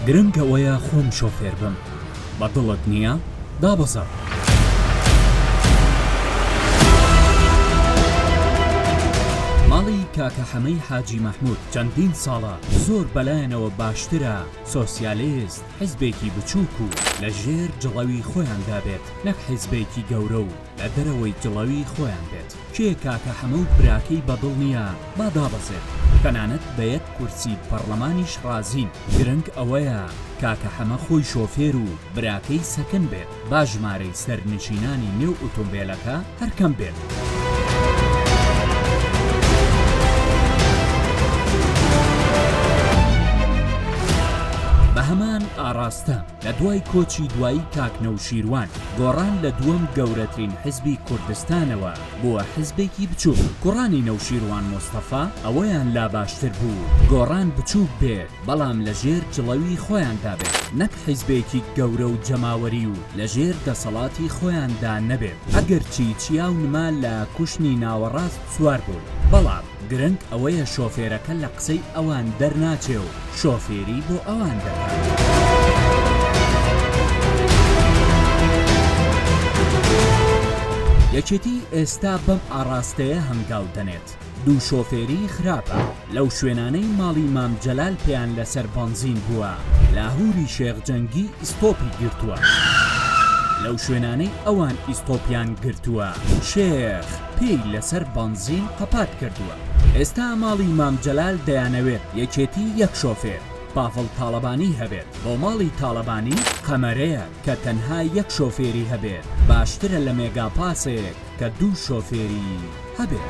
گرنگ ئەوەیە خۆم شۆفێر بم بە دڵت نییە دابەزە. ماڵی کاکە حەمەی حاجی مەحمود چەندین ساڵە زۆر بەلایەنەوە باشترە سۆسیالست حزبێکی بچووک و لە ژێر جڵەوی خۆیاندا بێت نەک حزبێکی گەورە و لە دەرەوەی جڵەوی خۆیان بێت کێ کاکە حەمە و براکەی بە دڵ نیە با دابەزێت تەنانەت بە یەک کورسی پەڕلەمانیش ڕازین گرنگ ئەوەیە کاکە حەمە خۆی شۆفێر و براکەی سەکن بێت با ژمارەی سەرنشینانی نێو ئوتومبێلەکە هەر کەم بێت. بە هەمان ئاڕاستە لە دوای کۆچی دوایی کاک نەوشیروان گۆڕان لە دووەم گەورەترین حزبی کوردستانەوە بووە حزبێکی بچووک، کوڕانی نەوشیروان مستەفا ئەوەیان لا باشتر بوو گۆڕان بچووک بێت بەڵام لە ژێر جڵەوی خۆیاندا بێت نەک حزبێکی گەورە و جەماوەری و لە ژێر دەسەڵاتی خۆیاندا نەبێت ئەگەرچی چیا و نما لە کوشنی ناوەڕاست سوار بوون بەڵام گرنگ ئەوەیە شۆفێرەکە لە قسەی ئەوان دەرناچێ و شۆفێری بۆ ئەوان دەکات. یەکێتی ئێستا بەم ئاڕاستەیە هەنگاو دەنێت. دوو شۆفێری خراپە. لەو شوێنانەی ماڵی مام جەلال پێیان لەسەر بەنزین بووە، لاهووری شێخ جەنگی ئیستۆپی گرتووە. لەو شوێنانەی ئەوان ئیستۆپیان گرتووە، شێخ. پێی لەسەر بەنزین قەپات کردووە. ئێستا ماڵی مام جەلال دەیانەوێت یەکێتی یەک شۆفێر، پاڤڵ تاڵەبانی، هەبێت، بۆ ماڵی تاڵەبانی قەمەرەیە کە تەنها یەک شۆفێری هەبێت، باشترە لە مێگا پاسێک کە دوو شۆفێری هەبێت.